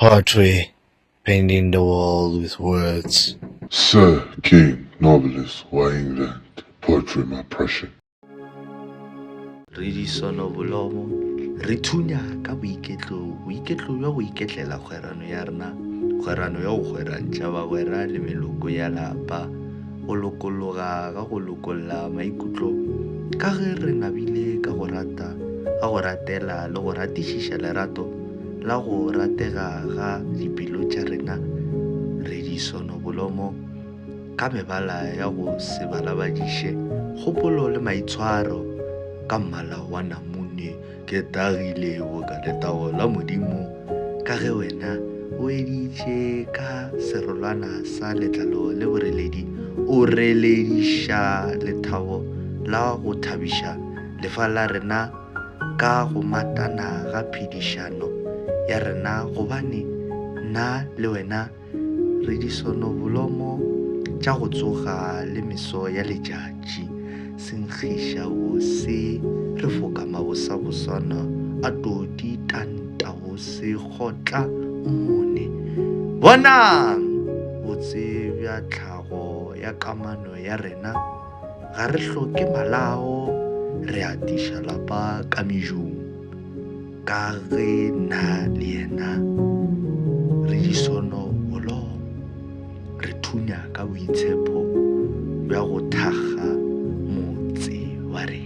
Hartwig, painting the world with words. Sir, king, novelist wa England, poetry ma Prussian. Re disonobolomo, re thunya ka boiketlo, boiketlo bja go iketlela kgwerano ya rena, kgwerano ya go kgwerantšha bagwera le meloko ya lapa, go lokologa ga go lokolla maikutlo ka ge re nabile ka go rata, ka go ratela le go ratišiša lerato. la go ratega ga dipelo tša rena re di sonobolomo ka mebala ya go se balabadiše, kgopolo le maitshwaro ka mmala wa namune. Ke tagile boka letago la Modimo ka ge wena o editše ka serolwana sa letlalo le boreledi, o relediša lethabo la go thabiša lefa la rena. ka go matana ga phedišano ya rena gobane nna le wena re disonobolomo tša go tsoga le meso ya letšatši. Senkgiša wo se re foka mabosabosana a todi tanta wo se kgotla o mone. Bonang! Botse bja tlhago ya kamano ya rena. Ga re hloke malao, re a tiša lapa ka mejung, ka ge nna le yena re disono holong. Re thunya ka boitshepho bja go thakga motse wa rena.